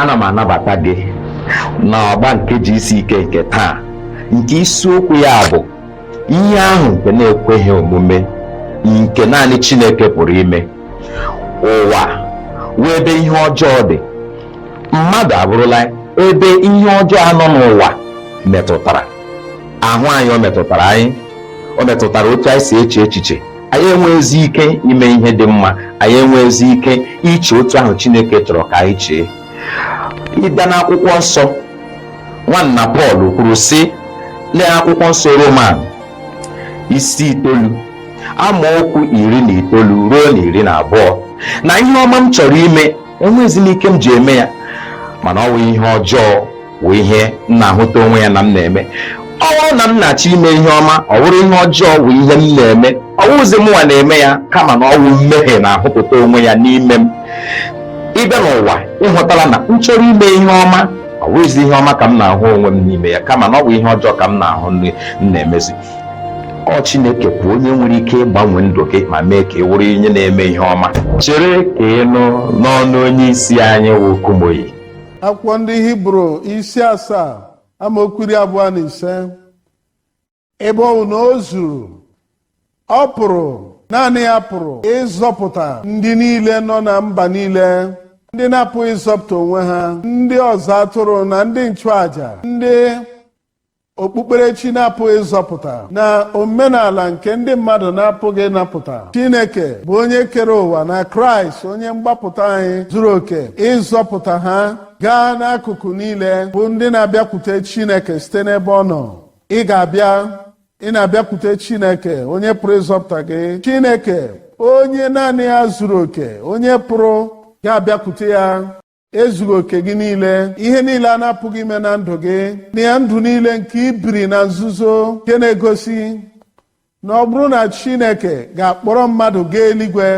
ana m anabata gị na ọgba nke GCK nke taa nke isiokwu ya bụ ihe ahụ nke na-ekweghị omume nke naanị Chineke pụrụ ime ụwa wụ ebe ihe ọjọọ dị mmadụ abụrụla ebe ihe ọjọọ a nọ n'ụwa metụtara ahụ anyị o metụtara anyị o metụtara otu anyị si eche echiche anyị enweghịzi ike ime ihe dị mma anyị enweghịzi ike iche otu ahụ Chineke chọrọ ka anyị chee ị bịa n'akwụkwọ nsọ nwanna Pọl kwuru sị lee akwụkwọ nsọ Roman isi itoolu amaokwu iri na itoolu ruo na iri na abụọ na ihe ọma m chọrọ ime enweghịzi m ike m ji eme ya mana ọ wụ ihe ọjọọ wụ ihe m na-ahụta onwe ya na m na-eme ọ wụrụ na m na-achọ ime ihe ọma ọ wụrụ ihe ọjọọ wụ ihe m na-eme ọ wụghịzi mụnwa na-eme ya kama na ọ wụ mmehie na-ahụpụta onwe ya n'ime m ị bịa n'ụwa ị hụtala na m chọrọ ime ihe ọma ọ wụghịzi ihe ọma ka m na-ahụ onwe m n'ime ya kama na ọ wụ ihe ọjọọ ka m na-ahụ m na-emezi ọ Chineke bụ onye nwere ike ịgbanwe ndụ gị ma mee ka ị wụrụ onye na-eme ihe ọma chere ka ị nụ n'ọnụ onye isi anyị wụ Kumuyi akwụkwọ ndị hibru isi asaa amaokwu iri abụọ na ise ebe ọ bụ na o zuru ọ pụrụ naanị ya pụrụ ịzọpụta ndị niile nọ na mba niile ndị na-apụghị ịzọpụta onwe ha ndị ọzụ atụrụ na ndị nchụaja ndị okpukperechi na-apụghị ịzọpụta na omenala nke ndị mmadụ na-apụghị ịnapụta Chineke bụ onye kere ụwa na Kraịst onye mgbapụta anyị zuru oke ịzọpụta ha gaa n'akụkụ niile bụ ndị na-abịakwute Chineke site n'ebe ọ nọ ị ga-abịa ị na-abịakwute Chineke onye pụrụ ịzọpụta gị Chineke onye naanị ya zuru oke onye pụrụ ga-abịakwute ya ezughị oke gị niile ihe niile a na-apụghị ime na ndụ gị na ya ndụ niile nke i biri na nzuzo nke na-egosi na ọ bụrụ na Chineke ga-akpọrọ mmadụ gaa eluigwe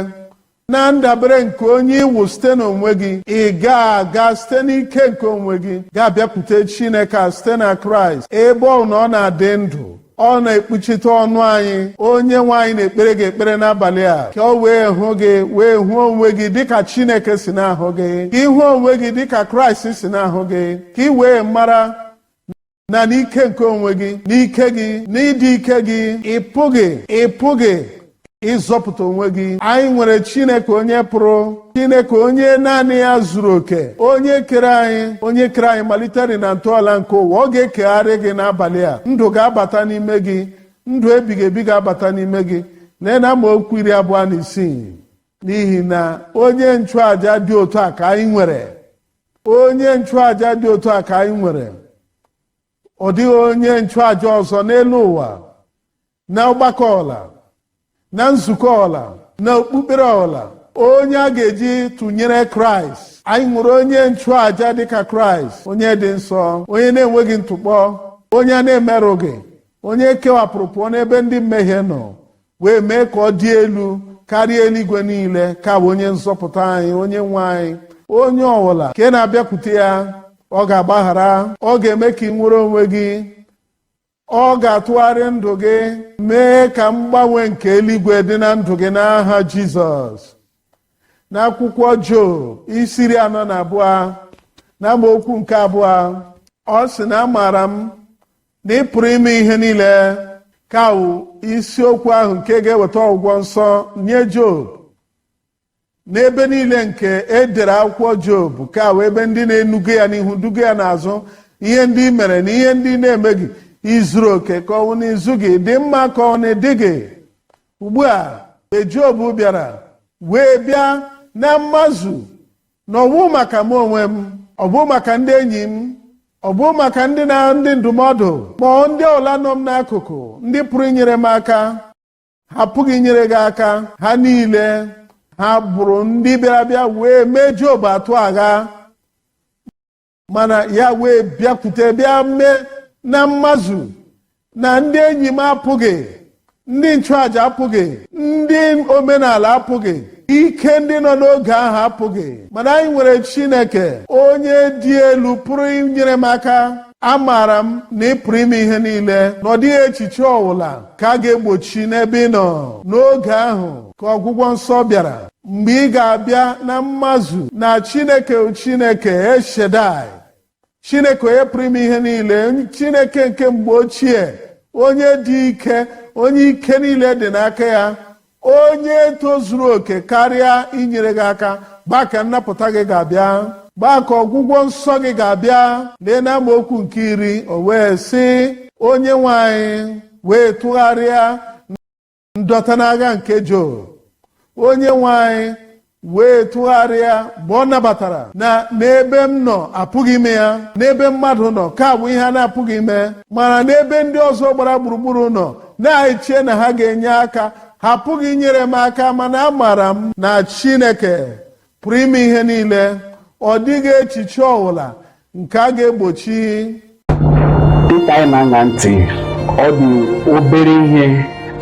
na ndabere nke onye ị wụ site n'onwe gị ị gaghị aga site n'ike nke onwe gị ga-abịakwute Chineke site na Kraịst ebe ọ wụ na ọ na-adị ndụ ọ na-ekpuchite ọnụ anyị onye nwe anyị na-ekpere gị ekpere n'abalị a ka o wee hụ gị wee hụ onwe gị dịka chineke si na-ahụ gị ka ị hụ onwe gị dịka kraịst si na-ahụ gị ka ị wee mara na n'ike nke onwe gị n'ike gị n'ịdị ike gị ị pụghị ị pụghị ịzọpụta onwe gị anyị nwere chineke onye pụrụ chineke onye naanị ya zuru oke onye kere anyị onye kere anyị malitere na ntọala nke ụwa ọ ga-ekegharị gị n'abalị a ndụ ga-abata n'ime gị ndụ ebighị ebi ga-abata n'ime gị lee na amaokwu iri abụọ na isii n'ihi na onye nchụaja dị otu a ka anyị nwere onye nchụaja dị otu a ka anyị nwere ọ dịghị onye nchụaja ọzọ n'elu ụwa na ọgbakọ ọwụla na nzukọ ọwụla na okpukpere ọwụla onye a ga-eji tụnyere kraịst anyị nwere onye nchụaja dịka kraịst onye dị nsọ onye na-enweghị ntụkpọ onye a na-emerụghị onye e kewapụrụ pụọ n'ebe ndị mmehie nọ wee mee ka ọ dị elu karịa eluigwe niile ka wụ onye nzọpụta anyị onye nwe anyị onye ọwụla nke na-abịakwute ya ọ ga-agbaghara ọ ga-eme ka i nwere onwe gị ọ ga-atụgharị ndụ gị mee ka mgbanwe nke eluigwe dị na ndụ gị n'aha jizọs n'akwụkwọ job isi iri anọ na abụọ na amaokwu nke abụọ ọ sị na amaara m na ị pụrụ ime ihe niile ka wụ isiokwu ahụ nke ga-eweta ọgwụgwọ nsọ nye job n'ebe niile nke e dere akwụkwọ job ka wụ ebe ndị na-enuga ya n'ihu duga ya n'azụ ihe ndị i mere na ihe ndị ị na-emeghị i zuru oke ka ọ wụ na i zughị ị dị mma ka ọ wụ na ị dịghị ugbu a mgbe job bịara wee bịa na mmazu na ọ wụghị maka m onwe m ọ wụghị maka ndị enyi m ọ wụghị maka ndị na-awụ ndị ndụmọdụ ma ọ wụ ndị ọwụla nọ m n'akụkụ ndị pụrụ inyere m aka ha pụghị inyere gị aka ha niile ha bụrụ ndị bịara bịa wee mee Job atụ agha mana ya wee bịakwute bịa mee na mmazu na ndị enyi m apụghị ndị nchụàja apụghị ndị omenala apụghị ike ndị nọ n'oge ahụ apụghị mana anyị nwere Chineke onye dị elu pụrụ inyere m aka amaara m na ị pụrụ ime ihe niile na ọ dịghị echiche ọwụla ka a ga-egbochi n'ebe ị nọ n'oge ahụ ka ọgwụgwọ nsọ bịara mgbe ị ga-abịa na mmazu na chineke chineke el shaddai chineke onye pụrụ ime ihe niile chineke nke mgbe ochie onye dị ike onye ike niile dị n'aka ya onye tozuru oke karịa inyere gị aka mgbe ahụ ka nnapụta gị ga-abịa mgbe ahụ ka ọgwụgwọ nsọ gị ga-abịa lee na amaokwu nke iri o wee sị onye nwe anyị wee tụgharịa ndọta n'agha nke Job onye nwe anyị wee tụgharịa mgbe ọ nabatara na n'ebe m nọ apụghị ime ya n'ebe mmadụ nọ nke a bụ ihe a na-apụghị ime mana n'ebe ndị ọzọ gbara gburugburu nọ na-eche na ha ga-enye aka ha apụghị inyere m aka mana amaara m na Chineke pụrụ ime ihe niile ọ dịghị echiche ọbụla nke a ga-egbochi dịka anyị na-aṅa ntị ọ dị obere ihe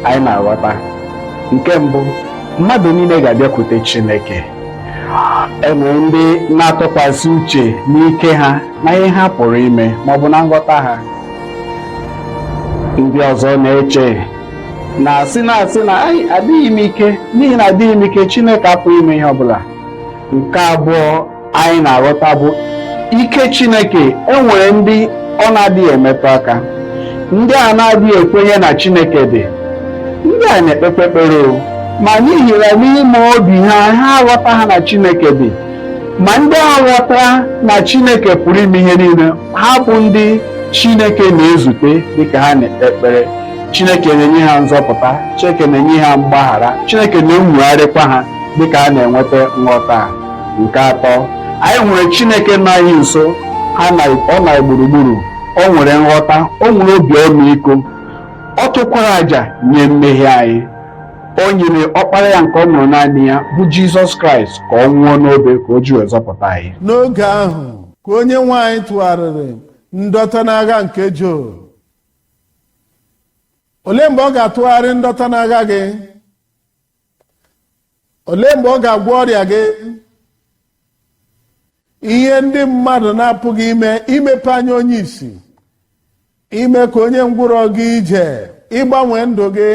anyị na-aghọta nke mbụ mmadụ niile ga-abịakwute Chineke enwere ndị na-atụkwasị uche n'ike ha na ihe ha pụrụ ime ma ọ bụ na nghọta ha ndị ọzọ na-eche na-asị na-asị na adịghị m ike n'ihi na adịghị m ike Chineke apụghị ime ihe ọ bụla nke abụọ anyị na-aghọta bụ ike Chineke enwere ndị ọ na-adịghị emetụ aka ndị a na-adịghị ekwenye na Chineke dị ndị a na-ekpekpe ekpere ma n'ihi na n'ime obi ha ha aghọtaghị na Chineke dị ma ndị a ghọtara na Chineke pụrụ ime ihe niile ha bụ ndị Chineke na-ezute dịka ha na-ekpe ekpere Chineke na-enye ha nzọpụta Chineke na-enye ha mgbaghara Chineke na-enwogharịkwa ha dịka ha na-enweta nghọta nke atọ anyị nwere chineke nọ anyị nso ọ nọ na gburugburu o nwere nghọta o nwere obi ọmịiko ọ chụkwara àjà nye mmehie anyị o nyere ọkpara ya nke ọ mụrụ naanị ya bụ jizọs kraịst ka ọ nwụọ n'obe ka o ji wee zọpụta anyị n'oge ahụ ka onye nwe anyị tụgharịrị ndọta n'agha nke Job olee mgbe ọ ga-atụgharị ndọta n'agha gị olee mgbe ọ ga-agwọ ọrịa gị ihe ndị mmadụ na-apụghị ime imepe anya onye isi ime ka onye ngwụrọ gaa ije ịgbanwe ndụ gị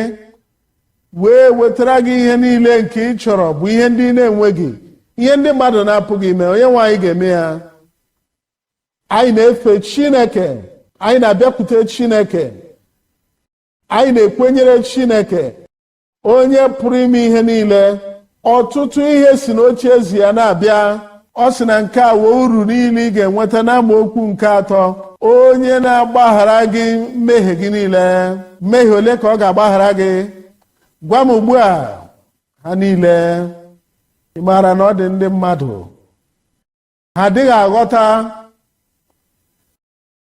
wee wetara gị ihe niile nke ị chọrọ bụ ihe ndị na-enweghị ihe ndị mmadụ na-apụghị ime onye nwe anyị ga-eme ya anyị na-efe chineke anyị na-abịakwute chineke anyị na-ekwenyere chineke onye pụrụ ime ihe niile ọtụtụ ihe si n'ocheeze ya na-abịa ọ sị na nke a wụ uru niile ị ga-enweta n'amaokwu nke atọ onye na-agbaghara gị mmehie gị niile mmehie ole ka ọ ga-agbaghara gị gwa m ugbu a ha niile ị maara na ọ dị ndị mmadụ ha adịghị aghọta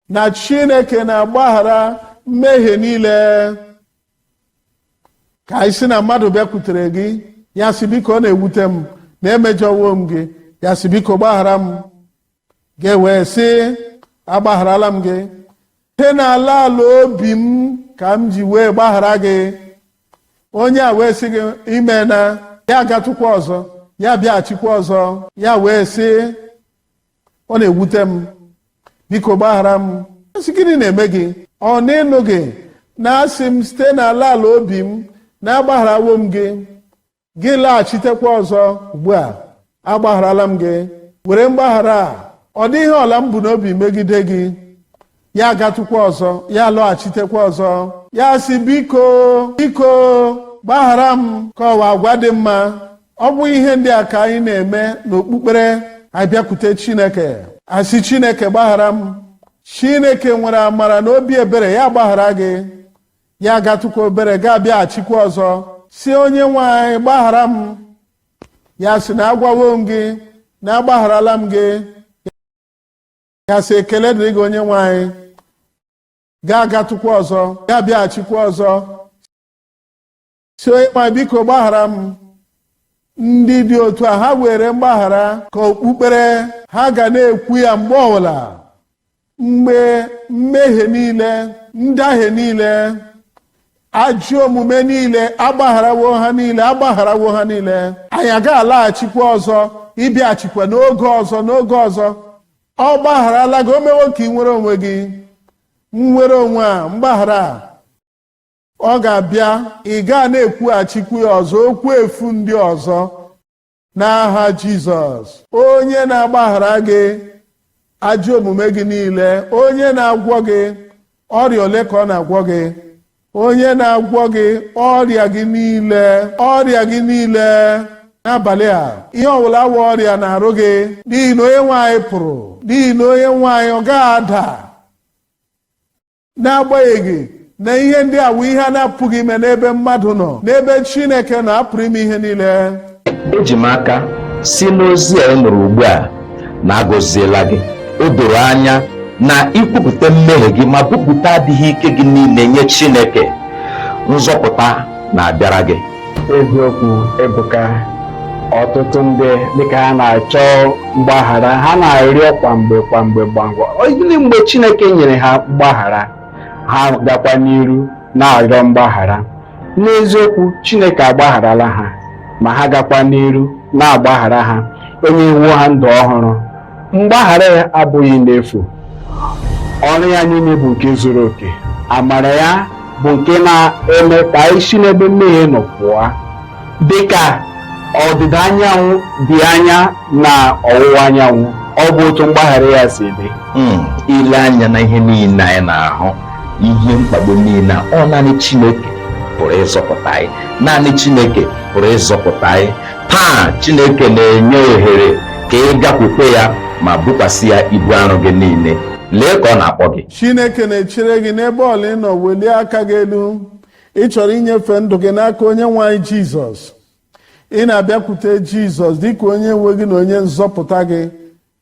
na chineke na-agbaghara mmehie niile ka anyị sị na mmadụ bịakwutere gị ya sị biko ọ na-ewute m na emejọwo m gị ya sị biko gbaghara m gị wee sị agbagharala m gị site n'ala ala obi m ka m ji wee gbaghara gị onye a wee sị gị imeela ya agatụkwa ọzọ ya abịaghachikwa ọzọ ya wee sị ọ na-ewute m biko gbaghara m asị gịnị na-eme gị ọ na ịnụghị na asị m site n'ala ala obi m na agbagharawo m gị gị laghachitekwa ọzọ ugbu a agbagharala m gị were mgbaghara a ọ dịghị ihe ọbụla m bu n'obi megide gị ya agatụkwa ọzọ ya alọghachitekwa ọzọ ya sị biko biko gbaghara m ka ọ wụ agwa dị mma ọ bụ ihe ndị a ka anyị na-eme n'okpukpere a bịakwute chineke asị chineke gbaghara m chineke nwere amara na obi ebere ya agbaghara gị ya agatụkwa obere gị abịaghachikwa ọzọ sị onye nwe anyị gbaghara m ya sị na agwawo m gị na agbagharala m gị gị asị ekele dịrị gị onye nwe anyị gị agatụkwa ọzọ gị abịaghachikwa ọzọ sị onye nwe anyị biko gbaghara m ndị dị otu a ha weere mgbaghara ka okpukpere ha ga na-ekwu ya mgbe ọbụla mgbe mmehie niile ndahie niile ajọ omume niile agbagharawo ha niile agbagharawo ha niile anyị agaghị alaghachikwa ọzọ ịbịaghachikwa n'oge ọzọ n'oge ọzọ ọ gbagharala gị o mewo ka i nwere onwe gị nnwere onwe a mgbaghara a ọ ga-abịa ị ga na-ekwughachikwa ya ọzọ okwu efu ndị ọzọ n'aha Jizọs onye na-agbaghara gị ajọ omume gị niile onye na-agwọ gị ọrịa ole ka ọ na-agwọ gị onye na-agwọ gị ọrịa gị niile ọrịa gị niile n'abalị a ihe ọbụla wụ ọrịa n'arụ gị n'ihi na onye nwe anyị pụrụ n'ihi na onye nwe anyị ọ gaghị ada n'agbanyeghị na ihe ndị a wụ ihe a na-apụghị ime n'ebe mmadụ nọ n'ebe Chineke nọ apụrụ ime ihe niile eji m aka si n'ozi a ị nụrụ ugbu a na agọziela gị o doro anya na i kwupụta mmehie gị ma kwupụta adịghị ike gị niile nye Chineke nzọpụta na-abịara gị eziokwu ebuka ọtụtụ ndị dịka ha na-achọ mgbaghara ha na-arịọ kwa mgbe kwa mgbe ọbụnadị mgbe chineke nyere ha mgbaghara ha gakwa n'iru na-arịọ mgbaghara n'eziokwu chineke agbagharala ha ma ha gakwa n'iru na-agbaghara ha o nyewo ha ndụ ọhụrụ mgbaghara ya abụghị n'efu ọrụ ya niile bụ nke zuru oke amara ya bụ nke na-eme ka anyị si n'ebe mmehie nọ pụọ dị ka ọdịda anyanwụ dị anya na ọwụwa anyanwụ ọ bụ otu mgbaghara ya si dị hmm, ile anya n'ihe niile anyị na-ahụ ihe mkpagbu niile a ọ naanị Chineke pụrụ ịzọpụta anyị naanị Chineke pụrụ ịzọpụta anyị taa chineke na-enye ohere ka ị bịakwute ya ma bukwasị ya ibu arụ gị niile lee ka ọ na-akpọ gị chineke na-echere gị n'ebe ọbụla ị nọ welie aka gị elu ị chọrọ inyefe ndụ gị n'aka onye nwe anyị jizọs ị na-abịakwute jizọs dịka onye nwe gị na onye nzọpụta gị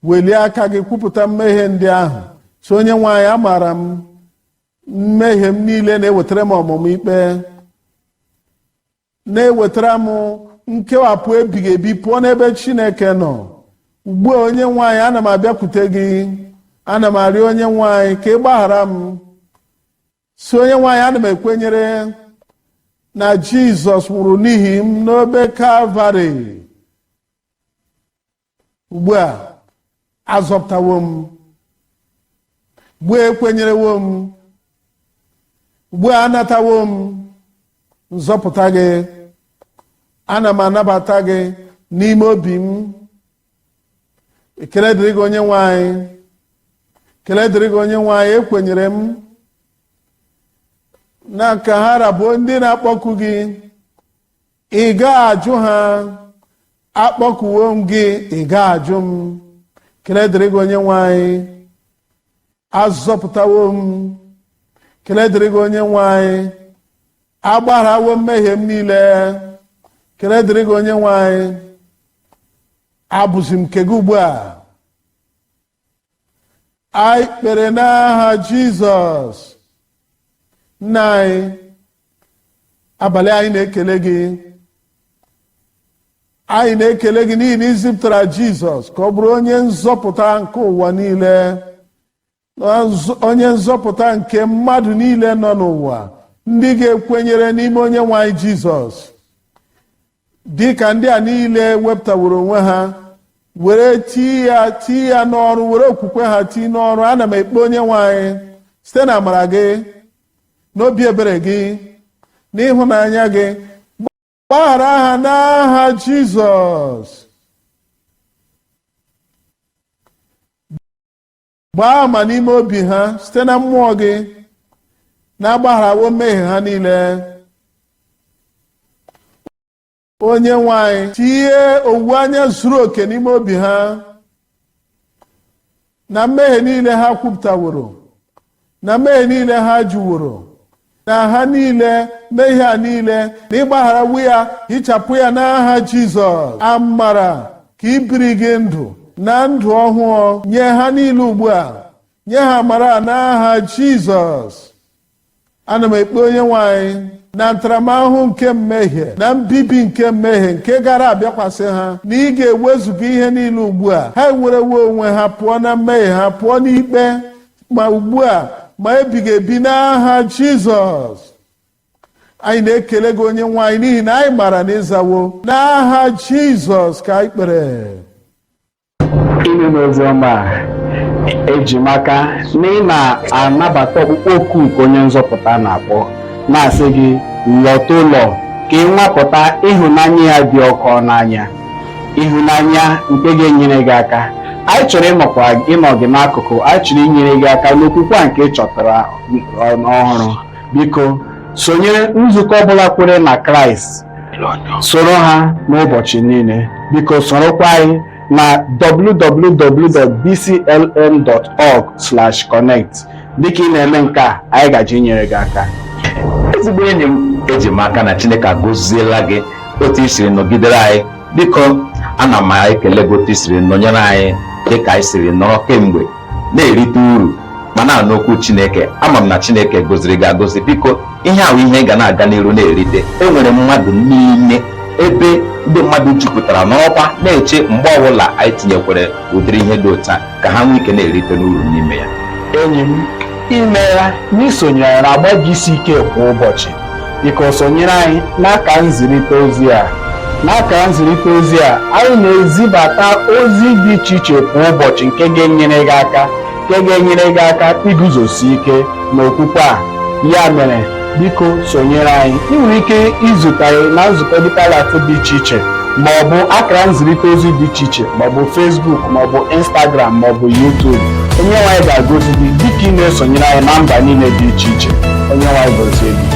welie aka gị kwupụta mmehie ndị ahụ sị onye nwe anyị amaara m mmehie m niile na-ewetara m ọmụma ikpe na-ewetara m nkewapụ ebighị ebi pụọ n'ebe Chineke nọ ugbu a onye nwe anyị ana m abịakwute gị ana m arịọ onye nwe anyị ka ị gbaghara m sị onye nwe anyị ana m ekwenyere na Jizọs nwụrụ n'ihi m n'obe Kalvarị ugbu a azọpụtawo m ugbu a ekwenyerewo m ugbu a anatawo m nzọpụta gị ana m anabata gị n'ime obi m ekele dịrị gị onye nwe anyị ekele dịrị gị onye nwe anyị ekwenyere m na ka ha ra bụ ndị na-akpọku gị ị gaghị ajụ ha akpọkuwo m gị ị gaghị ajụ m ekele dịrị gị onye nwe anyị azọpụtawo m ekele dịrị gị onye nwe anyị agbagharawo mmehie m niile ekele dịrị gị onye nwe anyị abụzi m nke gị ugbu a anyị kpere n'aha jizọs nna anyị abalị a anyị na-ekele gị anyị na-ekele gị n'ihi na i zipụtara jizọs ka ọ bụrụ onye nzọpụta nke ụwa niile onye nzọpụta nke mmadụ niile nọ n'ụwa ndị ga-ekwenyere n'ime onye nwe anyị jizọs dị ka ndị a niile wepụtaworo onwe ha were tii ya tii ya n'ọrụ were okwukwe ha tii n'ọrụ ana m ekpe onye nwe anyị site n'amara gị n'obi ebere gị n'ịhụnanya gị gbaghara ha n'aha Jizọs gbaa ama n'ime obi ha site na mmụọ gị na agbagharawo mmehie ha niile onye nwe anyị tinye owuwe anya zuru oke n'ime obi ha na mmehie niile ha kwupụtaworo na mmehie niile ha jụworo na ha niile mmehie a niile na ị gbagharawo ya hichapụ ya n'aha Jizọs amara ka ibiri gị ndụ na ndụ ọhụụ nye ha niile ugbu a nye ha amara n'aha Jizọs ana m ekpe onye nwe anyị na ntaramahụhụ nke mmehie na mbibi nke mmehie nke gaara abịakwasị ha na ị ga-ewezuga ihe niile ugbu a ha enwerewo onwe ha pụọ na mmehie ha pụọ n'ikpe ma ugbu a ma ebighị ebi n'aha jizọs anyị na-ekele gị onye nwe anyị n'ihi na anyị maara na ị zawo n'aha jizọs ka anyị kpere ime n'ozi ọma a eji m aka na ị na-anabata ọkpụkpọ oku nke onye nzọpụta na-akpọ na-asị gị lọta ụlọ ka ị nwapụta ịhụnanya ya dị ọkụ n'anya ịhụnanya nke ga-enyere gị aka anyị chọrọ ịnọkwa ịnọ gị n'akụkụ anyị chọrọ inyere gị aka n'okwukwe a nke ị chọtara ọ- ọhụrụ biko sonyere nzukọ ọbụla kwere na kraịst soro ha n'ụbọchị niile biko sorokwa anyị na www.dclm.org/connect dịka ị na-eme nke a anyị gaje inyere gị aka ezigbo enyi m eji m aka na chineke agọziela gị otu i siri nọgidere anyị biko ana m ekele gị otu i siri nọnyere anyị dịka anyị siri nọrọ kemgbe na-erite uru ma na-anụ okwu chineke ama m na chineke goziri gị agozi biko ihe a wụ ihe ị ga na-aga n'iru na-erite enwere mmadụ niile ebe ndị mmadụ jupụtara nọkwa na-eche mgbe ọbụla anyị tinyekwere ụdịrị ihe dị otu a ka ha nwee ike na-erite n'uru n'ime ya enyi m imeela n'isonyere n'agba GCK kwa ụbọchị biko sonyere anyị n'aka nzirịta ozi a n'aka nzirịta ozi a anyị na-ezibata ozi dị iche iche kwa ụbọchị nke ga-enyere gị aka nke ga-enyere gị aka iguzosi ike n'okwukwe a ya mere biko sonyere anyị ị nwere ike izute anyị na nzukọ Deeper Life dị iche iche ma ọ bụ akara nzirịta ozi dị iche iche ma ọ bụ Facebook ma ọ bụ Instagram ma ọ bụ YouTube onye nwe anyị ga-agọzi gị dịka ị na-esonyere anyị na mba niile dị iche iche onye nwe anyị gọzie gị